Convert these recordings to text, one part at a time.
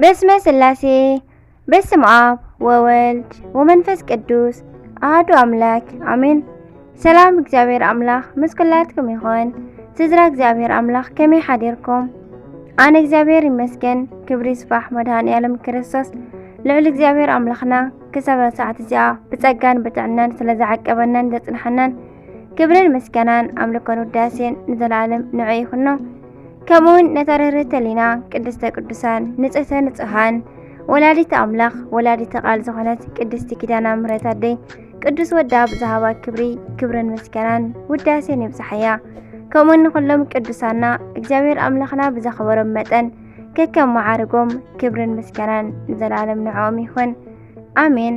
በስመ ስላሴ በስም አብ ወወልድ ወመንፈስ ቅዱስ አህዱ አምላክ አሜን። ሰላም እግዚአብሔር አምላክ ምስ ኩላትኩም ይኹን። ስድራ እግዚአብሔር አምላክ ከመይ ሓዲርኩም? ኣነ እግዚአብሔር ይመስገን ክብሪ ይስፋሕ መድሃኒ ዓለም ክርስቶስ ልዑል እግዚአብሔር ኣምላኽና ክሳብ ሰዓት እዚኣ ብጸጋን ብጥዕናን ስለ ዝዓቀበናን ዘጽንሐናን ክብርን ምስጋናን ኣምልኮን ውዳሴን ንዘለኣለም ንዑ ይኹኖ። ከምኡውን ነታ ርህርህተ ሊና ቅድስተ ቅዱሳን ንጽህተ ንጹሃን ወላዲተ ኣምላኽ ወላዲተ ቃል ዝኾነት ቅድስቲ ኪዳና ምሕረት ኣደይ ቅዱስ ወዳ ብዝሃባ ክብሪ ክብርን ምስጋናን ውዳሴን ይብጽሓያ። ከምኡውን ንኹሎም ቅዱሳና እግዚኣብሔር ኣምላኽና ብዘኸበሮም መጠን ከከም መዓርጎም ክብርን ምስጋናን ንዘለኣለም ንዕኦም ይኹን። ኣሜን።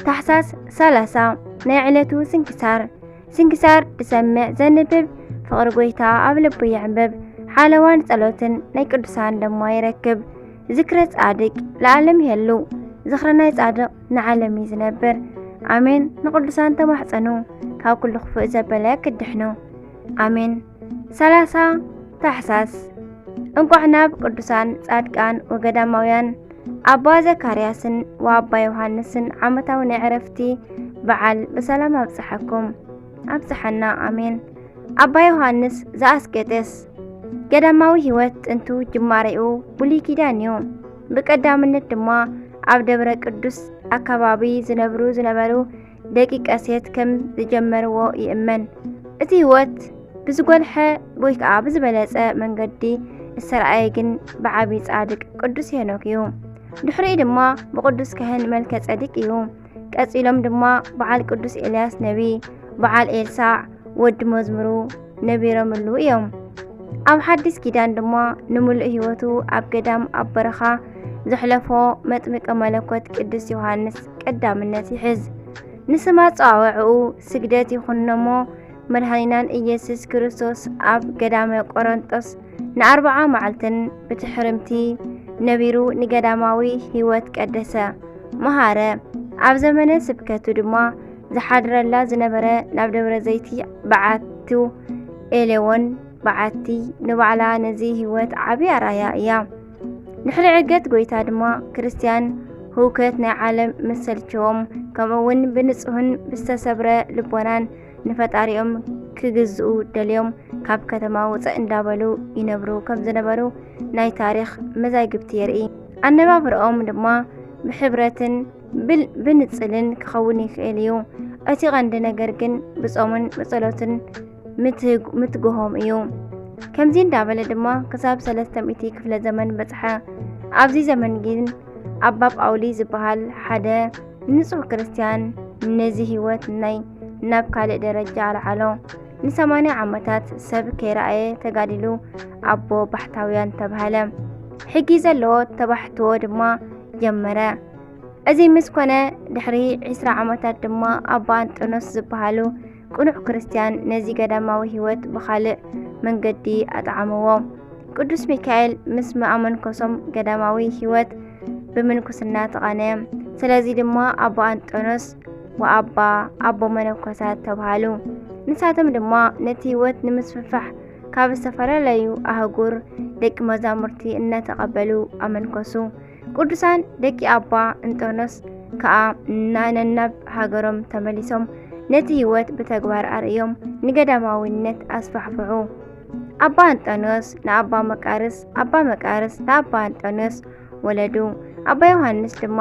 ታሕሳስ 30 ናይ ዕለቱ ስንክሳር ስንክሳር ዝሰምዕ ዘንብብ ፍቕሪ ጎይታ ኣብ ልቡ የዕምብብ ሓለዋን ጸሎትን ናይ ቅዱሳን ደሞ ይረክብ ዝክረ ጻድቅ ለዓለም ይሄሉ ዝክረ ናይ ጻድቅ ንዓለም እዩ ዝነብር ኣሜን። ንቅዱሳን ተማሕጸኑ ካብ ኩሉ ክፉእ ዘበለ ክድሕኑ ኣሜን። 30 ታሕሳስ እንቋዕ ናብ ቅዱሳን ጻድቃን ወገዳማውያን ኣባ ዘካርያስን ወኣባ ዮሃንስን ዓመታዊ ናይ ዕረፍቲ በዓል ብሰላም ኣብጽሓኩም ኣብጽሓና ኣሜን። ኣባ ዮሃንስ ዘኣስቄጥስ ገዳማዊ ሕይወት ጥንቱ ጅማሬኡ ብሉይ ኪዳን እዩ። ብቀዳምነት ድማ ኣብ ደብረ ቅዱስ ኣካባቢ ዝነብሩ ዝነበሩ ደቂቀ ሴት ከም ዝጀመርዎ ይእመን። እቲ ህይወት ብዝጎልሐ ወይ ከዓ ብዝበለፀ መንገዲ እተረኣየ ግን ብዓቢ ጻድቅ ቅዱስ ሄኖክ እዩ። ድሕሪኡ ድማ ብቅዱስ ካህን መልከ ጸዲቅ እዩ። ቀጺሎም ድማ በዓል ቅዱስ ኤልያስ ነቢ፣ በዓል ኤልሳዕ፣ ወዲ መዝሙሩ ነቢረምሉ እዮም። ኣብ ሓዲስ ኪዳን ድማ ንምሉእ ህይወቱ ኣብ ገዳም ኣብ በረኻ ዘሕለፎ መጥምቀ መለኮት ቅዱስ ዮሃንስ ቀዳምነት ይሕዝ። ንስማ ጸዋውዕኡ ስግደት ይኹንነሞ መድኃኒናን ኢየሱስ ክርስቶስ ኣብ ገዳመ ቆረንጦስ ንኣርብዓ መዓልትን ብትሕርምቲ ነቢሩ ንገዳማዊ ህይወት ቀደሰ መሃረ። ኣብ ዘመነ ስብከቱ ድማ ዝሓድረላ ዝነበረ ናብ ደብረ ዘይቲ በዓቱ ኤሌዎን በዓቲ ንባዕላ ነዚ ህይወት ዓብ ኣራያ እያ ንሕሪ ዕገት ጐይታ ድማ ክርስትያን ህውከት ናይ ዓለም ምሰልቸዎም ከምኡውን ብንጹህን ብዝተሰብረ ልቦናን ንፈጣሪኦም ክግዝኡ ደልዮም ካብ ከተማ ውፅእ እንዳበሉ ይነብሩ ከም ዝነበሩ ናይ ታሪክ መዛግብቲ የርኢ ኣነባብርኦም ድማ ብሕብረትን ብንጽልን ክኸውን ይኽእል እዩ። እቲ ቐንዲ ነገር ግን ብጾምን ብጸሎትን ምትግሆም እዩ። ከምዚ እንዳበለ ድማ ክሳብ ሰለስተ ሚእቲ ክፍለ ዘመን በጽሐ። ኣብዚ ዘመን ግን ኣባ ጳውሊ ዝበሃል ሓደ ንጹሕ ክርስትያን ነዚ ህይወት ናይ ናብ ካልእ ደረጃ ኣልዓሎ። ንሰማንያ ዓመታት ሰብ ከይረኣየ ተጋዲሉ ኣቦ ባሕታውያን ተባህለ። ሕጊ ዘለዎ ተባሕትዎ ድማ ጀመረ። እዚ ምስ ኮነ ድሕሪ ዕስራ ዓመታት ድማ ኣባ እንጦንዮስ ዝበሃሉ ቅኑዕ ክርስትያን ነዚ ገዳማዊ ሕይወት ብኻልእ መንገዲ ኣጥዓምዎ። ቅዱስ ሚካኤል ምስ መኣመንኮሶም ገዳማዊ ሕይወት ብምንኩስና ተቓነ። ስለዚ ድማ ኣባ እንጦንዮስ ወኣባ ኣቦ መነኮሳት ተብሃሉ። ንሳቶም ድማ ነቲ ሕይወት ንምስፍፋሕ ካብ ዝተፈላለዩ ኣህጉር ደቂ መዛሙርቲ እናተቐበሉ ኣመንኮሱ። ቅዱሳን ደቂ ኣባ እንጦኖስ ከዓ ነናብ ሃገሮም ተመሊሶም ነቲ ህይወት ብተግባር ኣርእዮም ንገዳማዊነት ኣስፋሕፍሑ። ኣባ እንጦኖስ ንኣባ መቃርስ፣ ኣባ መቃርስ ንኣባ እንጦኖስ ወለዱ። ኣባ ዮሃንስ ድማ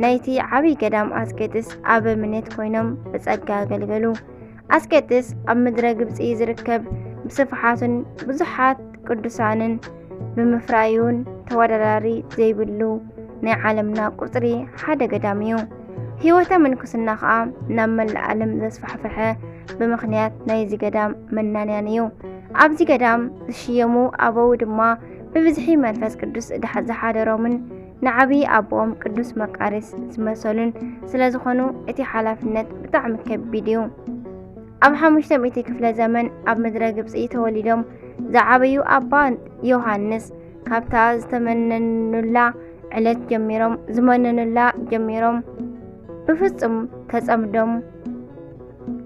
ናይቲ ዓብዪ ገዳም ኣስቄጥስ ኣበምኔት ኮይኖም ብጸጋ ኣገልገሉ። ኣስቄጥስ ኣብ ምድረ ግብፂ ዝርከብ ብስፍሓቱን ብዙሓት ቅዱሳንን ብምፍራዩን ተወዳዳሪ ዘይብሉ ናይ ዓለምና ቁፅሪ ሓደ ገዳም እዩ። ህይወተ ምንኩስና ከዓ ናብ መላእ ዓለም ዘስፋሕፈሐ ብምክንያት ናይዚ ገዳም መናንያን እዩ። ኣብዚ ገዳም ዝሽየሙ ኣበው ድማ ብብዝሒ መንፈስ ቅዱስ ዝሓደሮምን ንዓብዪ ኣቦኦም ቅዱስ መቃርስ ዝመሰሉን ስለ ዝኾኑ እቲ ሓላፍነት ብጣዕሚ ከቢድ እዩ። ኣብ ሓሙሽተ ሚእቲ ክፍለ ዘመን ኣብ ምድረ ግብፂ ተወሊዶም ዝዓበዩ ኣባ ዮሃንስ ካብታ ዝተመነኑላ ዕለት ጀሚሮም ዝመነኑላ ጀሚሮም ብፍጹም ተጸምዶም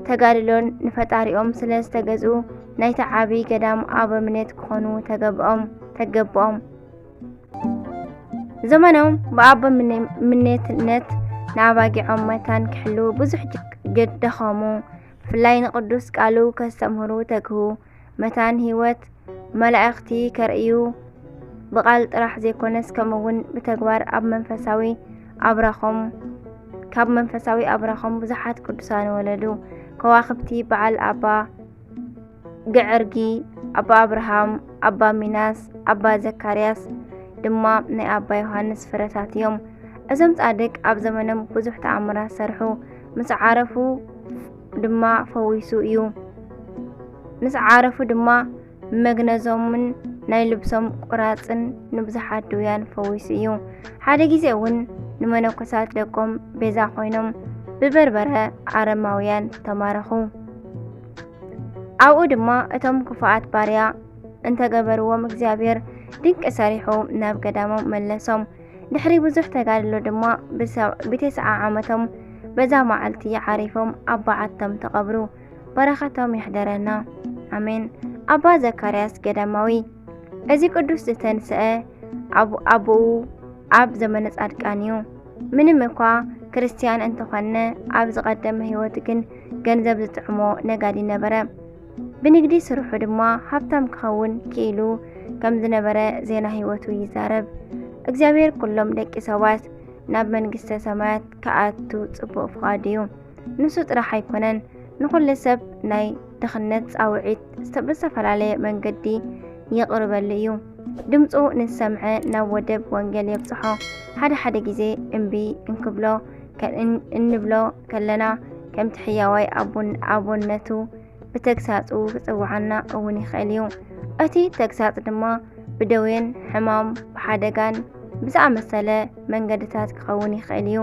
ተጋድሎን ንፈጣሪኦም ስለ ዝተገዝኡ ናይቲ ዓብዪ ገዳም ኣበምኔት ክኾኑ ተገብኦም ተገብኦም ዘመኖም ብኣቦ ምኔትነት ንኣባጊዖም መታን ክሕልዉ ብዙሕ ደኸሙ። ብፍላይ ንቅዱስ ቃሉ ከስተምህሩ ተግሁ። መታን ህይወት መላእኽቲ ከርእዩ ብቓል ጥራሕ ዘይኮነስ ከምኡውን ብተግባር ኣብ መንፈሳዊ ኣብራኾም ካብ መንፈሳዊ ኣብራኾም ብዙሓት ቅዱሳን ወለዱ። ከዋኽብቲ በዓል ኣባ ገዐርጊ፣ ኣባ ኣብርሃም፣ ኣባ ሚናስ፣ ኣባ ዘካርያስ ድማ ናይ ኣባ ዮሃንስ ፍረታት እዮም። እዞም ጻድቅ ኣብ ዘመኖም ብዙሕ ተኣምራት ሰርሑ፣ ምስ ዓረፉ ድማ ፈዊሱ እዩ። ምስ ዓረፉ ድማ መግነዞምን ናይ ልብሶም ቁራጽን ንብዙሓት ድውያን ፈዊሱ እዩ። ሓደ ግዜ እውን ንመነኮሳት ደቆም ቤዛ ኮይኖም ብበርበረ ኣረማውያን ተማረኹ። ኣብኡ ድማ እቶም ክፉኣት ባርያ እንተገበርዎም እግዚኣብሔር ድንቂ ሰሪሑ ናብ ገዳሞም መለሶም። ድሕሪ ብዙሕ ተጋድሎ ድማ ብተስዓ ዓመቶም በዛ መዓልቲ ዓሪፎም ኣብ በዓቶም ተቐብሩ። በረኸቶም ይሕደረና ኣሜን። ኣባ ዘካርያስ ገዳማዊ እዚ ቅዱስ ዝተንስአ ኣቦኡ ኣብ ዘመነ ጻድቃን እዩ። ምንም እኳ ክርስትያን እንተኾነ ኣብ ዝቐደመ ህይወቱ ግን ገንዘብ ዝጥዕሞ ነጋዲ ነበረ። ብንግዲ ስርሑ ድማ ሃብታም ክኸውን ክኢሉ ከም ዝነበረ ዜና ህይወቱ ይዛረብ። እግዚኣብሔር ኩሎም ደቂ ሰባት ናብ መንግስተ ሰማያት ክኣቱ ጽቡቕ ፍቓድ እዩ። ንሱ ጥራሕ ኣይኮነን፣ ንኹሉ ሰብ ናይ ድኽነት ጻውዒት ብዝተፈላለየ መንገዲ ይቕርበሉ እዩ። ድምፁ ንዝሰምዐ ናብ ወደብ ወንጌል የብጽሖ፣ ሓደ ሓደ ግዜ እምቢ እንክብሎ እንብሎ ከለና ከምቲ ሕያዋይ ኣቦነቱ ብተግሳጹ ክጽውዓና እውን ይኽእል እዩ። እቲ ተግሳጽ ድማ ብደዌን ሕማም ብሓደጋን ብዝኣመሰለ መንገድታት ክኸውን ይኽእል እዩ።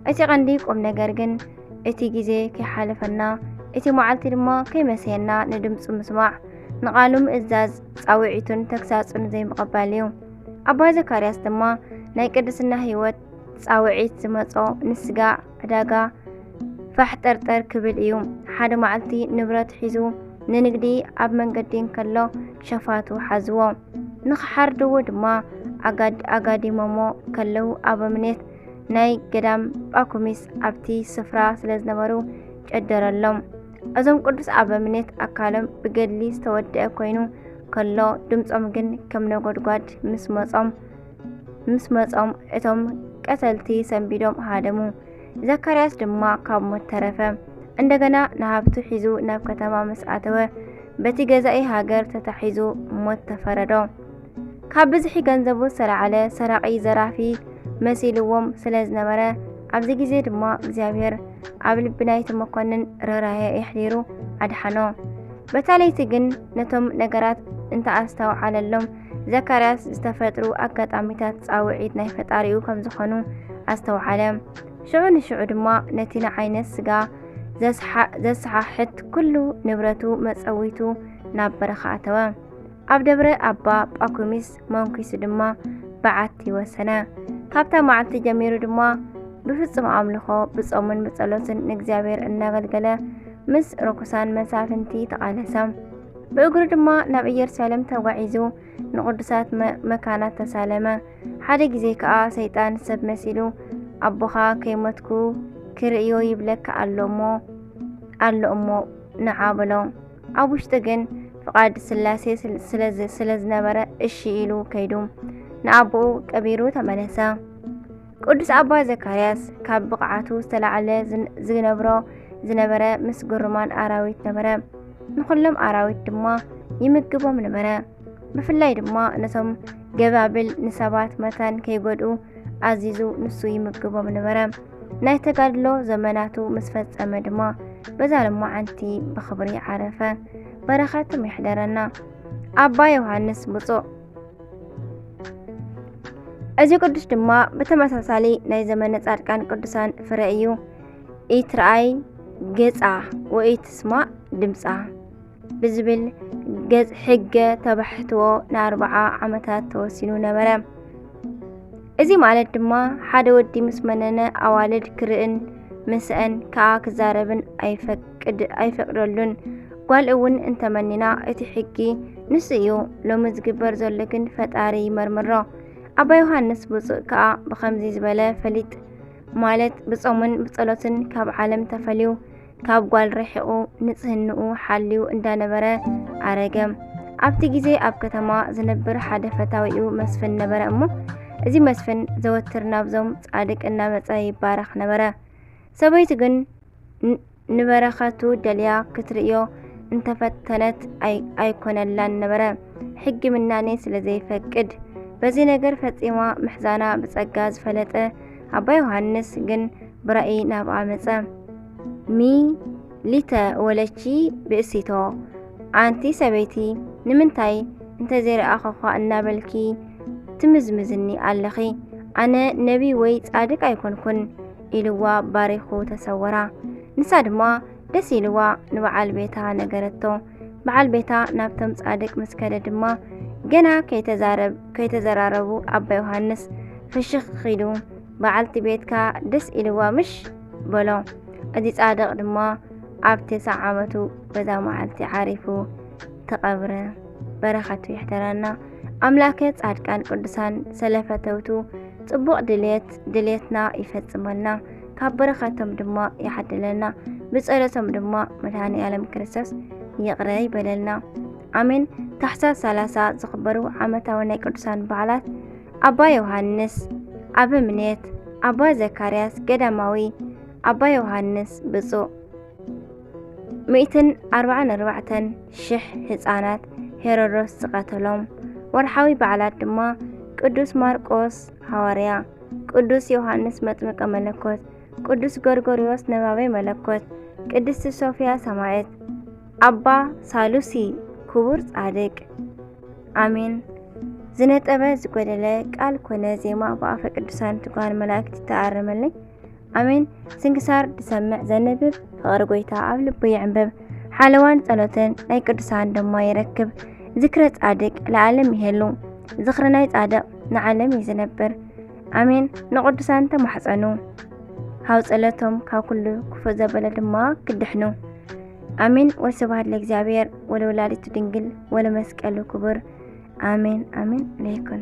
እቲ ቀንዲ ቁም ነገር ግን እቲ ግዜ ከይሓለፈና እቲ መዓልቲ ድማ ከይመሰየና ንድምፁ ምስማዕ ንቓሉ ምእዛዝ ፃውዒቱን ተግሳጹን ዘይምቕባል እዩ። ኣባ ዘካርያስ ድማ ናይ ቅድስና ህይወት ጻውዒት ዝመጾ ንስጋ ዕዳጋ ፋሕ ጠርጠር ክብል እዩ። ሓደ መዓልቲ ንብረት ሒዙ ንንግዲ ኣብ መንገዲ እንከሎ ሸፋቱ ሓዝዎ። ንኽሓርድዎ ድማ ኣጋዲሞሞ ከለው ኣበምኔት ናይ ገዳም ጳኩሚስ ኣብቲ ስፍራ ስለ ዝነበሩ ጨደረሎም። እዞም ቅዱስ ኣበምኔት ኣካሎም ብገድሊ ዝተወደአ ኮይኑ ከሎ ድምፆም ግን ከም ነጎድጓድ ምስ መፆም ምስ መጾም እቶም ቀተልቲ ሰንቢዶም ሃደሙ። ዘካርያስ ድማ ካብ ሞት ተረፈ። እንደገና ንሃብቱ ሒዙ ናብ ከተማ ምስ ኣተወ በቲ ገዛኢ ሃገር ተታሒዙ ሞት ተፈረዶ። ካብ ብዝሒ ገንዘቡ ዝተላዕለ ሰራቒ ዘራፊ መሲልዎም ስለ ዝነበረ ኣብዚ ግዜ ድማ እግዚኣብሔር ኣብ ልቢ ናይቲ መኮንን ርኅራኄ የሕዲሩ ኣድሓኖ። በታ ለይቲ ግን ነቶም ነገራት እንተኣስተውዓለሎም ዘካርያስ ዝተፈጥሩ ኣጋጣሚታት ጻውዒት ናይ ፈጣሪኡ ከም ዝኾኑ ኣስተውዓለ። ሽዑ ንሽዑ ድማ ነቲ ንዓይነት ስጋ ዘሰሓሕት ኩሉ ንብረቱ መጸዊቱ ናብ በረኻ ኣተወ። ኣብ ደብረ ኣባ ጳኩሚስ መንኪሱ ድማ በዓቲ ወሰነ። ካብታ መዓልቲ ጀሚሩ ድማ ብፍጹም ኣምልኾ ብጾምን ብጸሎትን ንእግዚኣብሔር እናገልገለ ምስ ርኩሳን መሳፍንቲ ተቓለሰ። ብእግሩ ድማ ናብ ኢየሩሳሌም ተጓዒዙ ንቕዱሳት መካናት ተሳለመ። ሓደ ግዜ ከኣ ሰይጣን ሰብ መሲሉ ኣቦኻ ከይሞትኩ ክርእዮ ይብለካ ኣሎ እሞ ኣሎ እሞ ንዓ በሎ። ኣብ ውሽጢ ግን ፍቓድ ስላሴ ስለ ዝነበረ እሺ ኢሉ ከይዱ ንኣቦኡ ቀቢሩ ተመለሰ። ቅዱስ ኣባ ዘካርያስ ካብ ብቕዓቱ ዝተላዕለ ዝነብሮ ዝነበረ ምስ ግሩማን ኣራዊት ነበረ። ንዅሎም ኣራዊት ድማ ይምግቦም ነበረ። ብፍላይ ድማ ነቶም ገባብል ንሰባት መታን ከይጎድኡ ኣዚዙ ንሱ ይምግቦም ነበረ። ናይ ተጋድሎ ዘመናቱ ምስ ፈጸመ ድማ በዛ ልማዓንቲ ብኽብሪ ዓረፈ። በረኸቶም ይሕደረና። ኣባ ዮሃንስ ብፁዕ እዚ ቅዱስ ድማ ብተመሳሳሊ ናይ ዘመነ ጻድቃን ቅዱሳን ፍረ እዩ። ኢትርኣይ ገጻ ወኢትስማዕ ድምጻ ብዝብል ገጽ ሕገ ተባሕትዎ ንኣርብዓ ዓመታት ተወሲኑ ነበረ። እዚ ማለት ድማ ሓደ ወዲ ምስ መነነ ኣዋልድ ክርእን ምስአን ከኣ ክዛረብን ኣይፈቅድን። ቅድ ኣይፈቅደሉን ጓል እውን እንተመኒና እቲ ሕጊ ንሱ እዩ ሎሚ ዝግበር ዘሎ ግን ፈጣሪ ይመርምሮ ኣባ ዮሃንስ ብፁእ ከዓ ብከምዚ ዝበለ ፈሊጥ ማለት ብጾምን ብጸሎትን ካብ ዓለም ተፈልዩ ካብ ጓል ርሒቑ ንጽህንኡ ሓልዩ እንዳነበረ ኣረገ ኣብቲ ግዜ ኣብ ከተማ ዝነብር ሓደ ፈታዊኡ መስፍን ነበረ እሞ እዚ መስፍን ዘወትር ናብዞም ጻድቅ እናመጸ ይባረኽ ነበረ ሰበይቱ ግን ንበረኸቱ ደልያ ክትርእዮ እንተፈተነት ኣይኮነላን ነበረ፣ ሕጊ ምናኔ ስለ ዘይፈቅድ። በዚ ነገር ፈጺማ ምሕዛና ብጸጋ ዝፈለጠ ኣባ ዮሃንስ ግን ብራእይ ናብኣ መጸ። ሚ ሊተ ወለቺ ብእሲቶ ኣንቲ ሰበይቲ ንምንታይ እንተዘይረኣኸኳ እናበልኪ ትምዝምዝኒ ኣለኺ? ኣነ ነቢ ወይ ጻድቅ ኣይኮንኩን። ኢልዋ ባሪኹ ተሰወራ። ንሳ ድማ ደስ ኢልዋ ንበዓል ቤታ ነገረቶ። በዓል ቤታ ናብቶም ጻድቅ ምስ ከደ ድማ ገና ከይተዘራረቡ ኣባ ዮሃንስ ፍሽኽ ኺዱ በዓልቲ ቤትካ ደስ ኢልዋ ምሽ በሎ። እዚ ጻድቕ ድማ ኣብ ትስዓ ዓመቱ በዛ መዓልቲ ዓሪፉ ተቐብረ። በረኸቱ ይሕደረና። ኣምላከ ጻድቃን ቅዱሳን ስለ ፈተውቱ ጽቡቕ ድልየት ድልየትና ይፈጽመልና ካብ በረኸቶም ድማ ይሓድለና ብጸሎቶም ድማ መድሃኒ ዓለም ክርስቶስ ይቕረ ይበለልና ኣሜን ታሕሳስ 30 ዝኽበሩ ዓመታዊ ናይ ቅዱሳን በዓላት ኣባ ዮሃንስ ኣበምኔት ኣባ ዘካርያስ ገዳማዊ ኣባ ዮሃንስ ብፁዕ ሚእትን ኣርባዓን ኣርባዕተን ሽሕ ህፃናት ሄሮዶስ ዝቐተሎም ወርሓዊ በዓላት ድማ ቅዱስ ማርቆስ ሃዋርያ፣ ቅዱስ ዮሃንስ መጥምቀ መለኮት፣ ቅዱስ ጎርጎርዮስ ነባቤ መለኮት፣ ቅድስቲ ሶፊያ ሰማዕት፣ ኣባ ሳሉሲ ክቡር ጻድቅ። ኣሜን። ዝነጠበ ዝጎደለ ቃል ኮነ ዜማ ብኣፈ ቅዱሳን ትጓን መላእክት ተኣረመለይ። ኣሜን። ስንክሳር ዝሰምዕ ዘንብብ ፍቕሪ ጎይታ ኣብ ልቡ ይዕንብብ፣ ሓለዋን ጸሎትን ናይ ቅዱሳን ድማ ይረክብ። ዝክረ ጻድቅ ለዓለም ይሄሉ፣ ዝኽሪ ናይ ጻድቕ ንዓለም እዩ ዝነብር። ኣሜን። ንቅዱሳን ተማሕጸኑ፣ ካብ ጸሎቶም ካብ ኩሉ ክፉእ ዘበለ ድማ ክድሕኑ። ኣሜን። ወስብሐት ለእግዚኣብሔር ወለወላዲቱ ድንግል ወለመስቀሉ ክቡር። ኣሜን ኣሜን ለይኩን